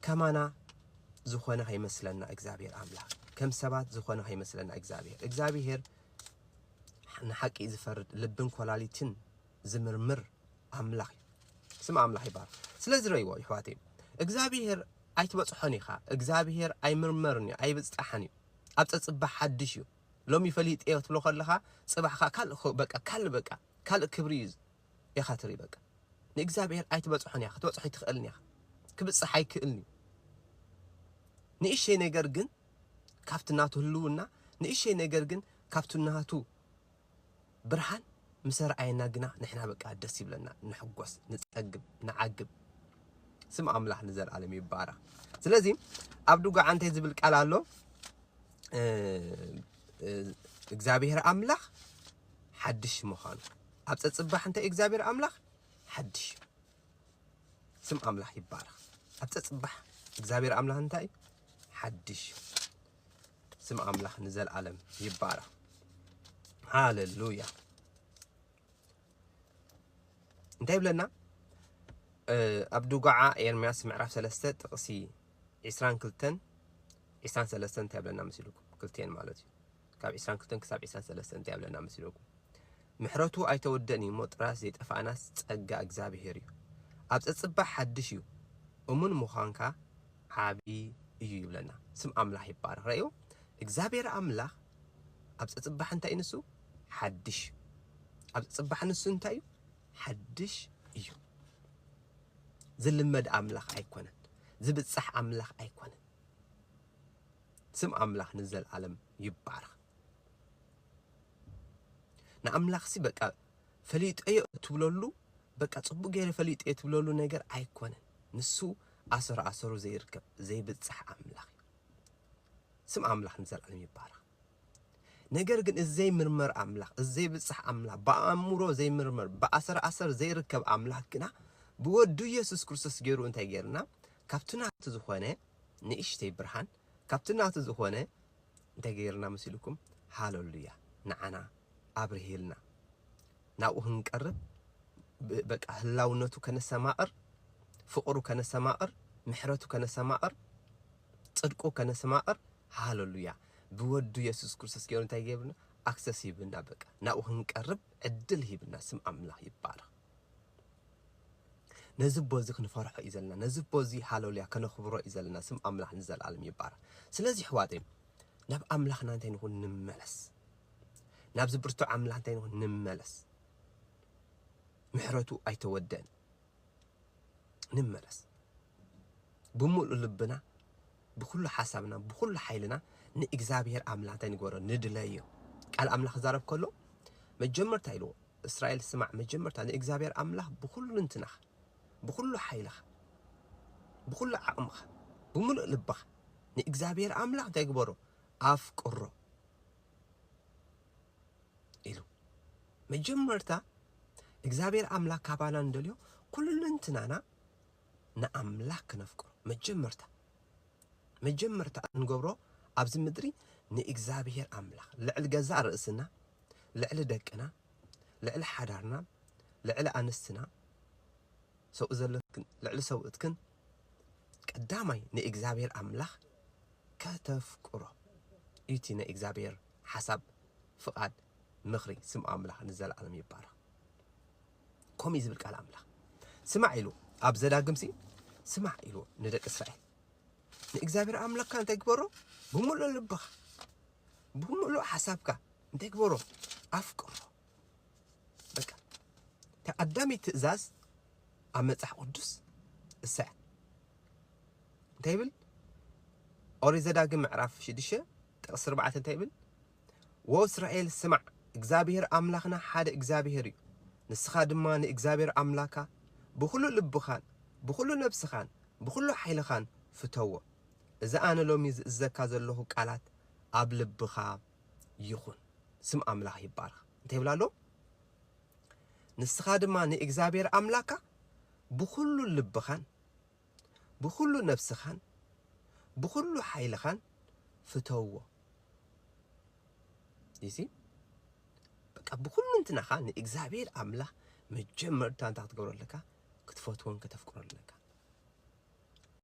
ከማና ዝኾነ ከይመስለና እግዚኣብሔር ኣምላኽ ከም ሰባት ዝኾነ ከይመስለና እግዚኣብሔር እግዚኣብሔር ንሓቂ ዝፈርድ ልብን ኮላሊትን ዝምርምር ኣምላኽ እዩ ስም ኣምላኽ ይባል ስለዚ ረይዎ ይሕዋት እግዚኣብሔር ኣይትበፅሖን ኢኻ እግዚኣብሔር ኣይምርመርን እዩ ኣይብፅጣሕን እዩ ኣብ ፀፅባሕ ሓድሽ እዩ ሎሚ ፈሊጥ እየ ክትብሎ ከለኻ ፅባሕካ ካልእ በቃ ካልእ በቃ ካልእ ክብሪ እዩ ኢኻ ትርኢ በቃ ንእግዚኣብሄር ኣይትበጽሖን ኢኻ ክትበጽሖ ኣይትኽእልን ኢኻ ክብጽሕ ኣይክእልን እዩ ንእሽተይ ነገር ግን ካብቲ ናቱ ህልውና ንእሽተይ ነገር ግን ካብቲ ናቱ ብርሃን ምስ ኣርኣየና ግና ንሕና በቃ ደስ ይብለና፣ ንሕጎስ፣ ንጸግብ፣ ንዓግብ። ስም ኣምላኽ ንዘለኣለም ይባረኽ። ስለዚ ኣብ ድጓዓ እንታይ ዝብል ቃል ኣሎ? እግዚኣብሔር ኣምላኽ ሓድሽ ምዃኑ ኣብ ጸጽባሕ እንተ እግዚኣብሔር ኣምላክ ሓድሽ ስም ኣምላክ ይባረክ ኣብ ጸጽባሕ እግዚኣብሔር ኣምላክ እንታይ ሓድሽ ስም ኣምላክ ንዘልኣለም ይባረክ ሃሌሉያ እንታይ ብለና ኣብ ዱጋዓ ኤርምያስ ምዕራፍ 3 ጥቕሲ 22 23 እንታይ ብለና መሲልኩም ክልቴን ማለት እዩ ካብ ዕስራን ክልተን ክሳብ ዕስራን ሰለስተን እንታይ ይብለና መስለኩም? ምሕረቱ ኣይተወደእን እዩ እሞ ጥራስ ዘይጠፍኣናስ ጸጋ እግዚኣብሄር እዩ። ኣብ ጸጽባሕ ሓድሽ እዩ እሙን ምዃንካ ዓቢ እዩ ይብለና። ስም ኣምላኽ ይባረኽ። ረኣዩ እግዚኣብሄር ኣምላኽ ኣብ ጸጽባሕ እንታይ እዩ ንሱ ሓድሽ ኣብ ጸጽባሕ ንሱ እንታይ እዩ ሓድሽ እዩ። ዝልመድ ኣምላኽ ኣይኮነን። ዝብጻሕ ኣምላኽ ኣይኮነን። ስም ኣምላኽ ንዘልኣለም ይባረኽ። ንኣምላኽሲ በቃ ፈሊጠዮ እትብለሉ በቃ ጽቡቅ ገይረ ፈሊጠዮ እትብለሉ ነገር ኣይኮነን። ንሱ ኣሰር ኣሰሩ ዘይርከብ ዘይብጻሕ ኣምላኽ እዩ። ስም ኣምላኽ ንዘልኣለም ይባረኽ። ነገር ግን እዚ ዘይምርመር ኣምላኽ እዚ ዘይብጻሕ ኣምላኽ ብኣእምሮ ዘይምርመር ብኣሰር ኣሰር ዘይርከብ ኣምላኽ ግና ብወዱ ኢየሱስ ክርስቶስ ገይሩ እንታይ ገይርና ካብቲ ናቱ ዝኾነ ንእሽተይ ብርሃን ካብቲ ናቱ ዝኾነ እንታይ ገይርልና መሲሉኩም ሃለሉያ ንዓና ኣብርሂልና ናብኡ ክንቀርብ በቃ ህላውነቱ ከነሰማቕር ፍቕሩ ከነሰማቕር ምሕረቱ ከነሰማቕር ጽድቁ ከነሰማቕር ሃለሉያ ብወዱ የሱስ ክርስቶስ ገይሩ እንታይ ጌብና ኣክሰስ ሂብና በቃ ናብኡ ክንቀርብ ዕድል ሂብና ስም ኣምላኽ ይባረኽ ነዚ ኣቦ እዚ ክንፈርሖ እዩ ዘለና ነዚ ኣቦ እዚ ሃሎልያ ከነኽብሮ እዩ ዘለና ስም ኣምላኽ ንዘልኣለም ይባረኽ ስለዚ ኣሕዋተይ ናብ ኣምላኽና እንታይ ንኹን ንመለስ ናብዚ ብርቱዕ ኣምላኽ እንታይ ንኹን ንመለስ ምሕረቱ ኣይተወደን ንመለስ ብምሉእ ልብና ብኩሉ ሓሳብና ብኩሉ ሓይልና ንእግዝኣብሄር ኣምላተ ንግበሮ ንድለዮ ቃል ኣምላኽ ክዛረብ ከሎ መጀመርታ ኢልዎ እስራኤል ስማዕ መጀመርታ ንእግዝኣብሄር ኣምላኽ ብኩሉ ልንትናኻ ብኩሉ ሓይልኻ ብኩሉ ዓቕምኻ ብምሉእ ልብኻ ንእግዝኣብሄር ኣምላኽ እንታይ ግበሮ ኣፍቅሮ ኢሉ መጀመርታ እግዚኣብሔር ኣምላክ ካባና እንደልዮ ኩልንትናና ንኣምላኽ ክነፍቅሮ መጀመርታ መጀመርታ እንገብሮ ኣብዚ ምድሪ ንእግዚኣብሄር ኣምላኽ ልዕሊ ገዛእ ርእስና ልዕሊ ደቅና ልዕሊ ሓዳርና ልዕሊ ኣንስትና ሰብኡ ዘለክን ልዕሊ ሰብኡትክን ቀዳማይ ንእግዚኣብሄር ኣምላኽ ከተፍቅሮ እዩ እቲ ናይ እግዚኣብሄር ሓሳብ ፍቓድ ምኽሪ ስም ኣምላኽ ንዘለኣለም ይባረኽ ከምኡ እዩ ዝብል ቃል ኣምላኽ ስማዕ ኢሉ ኣብ ዘዳግምሲ ስማዕ ኢሉ ንደቂ እስራኤል ንእግዚኣብሔር ኣምላኽካ እንታይ ግበሮ ብምሉእ ልብኻ ብምሉእ ሓሳብካ እንታይ ግበሮ ኣፍቅሮ በቃ ተቀዳሚ ትእዛዝ ኣብ መጽሓፍ ቅዱስ እሰያ እንታይ ይብል ኦሪት ዘዳግም ምዕራፍ ሽዱሽተ ጥቅሲ ኣርባዕተ እንታይ ይብል ወእስራኤል ስማዕ፣ እግዚኣብሄር ኣምላኽና ሓደ እግዚኣብሄር እዩ፣ ንስኻ ድማ ንእግዚኣብሄር ኣምላካ ብዅሉ ልብኻን ብዅሉ ነፍስኻን ብዅሉ ሓይልኻን ፍተዎ። እዚ ኣነ ሎሚ ዝእዝዘካ ዘሎኹ ቃላት ኣብ ልብኻ ይኹን። ስም ኣምላኽ ይባረኽ። እንታይ ይብል ኣሎ? ንስኻ ድማ ንእግዚኣብሄር ኣምላካ ብዅሉ ልብኻን ብዅሉ ነፍስኻን ብዅሉ ሓይልኻን ፍተውዎ። You see? በቃ ብዅልንትናኻ ንእግዚኣብሄር ኣምላኽ መጀመርታ እንታይ ክትገብሮ ኣለካ? ክትፈትዎን ከተፍቅሮን ኣለካ።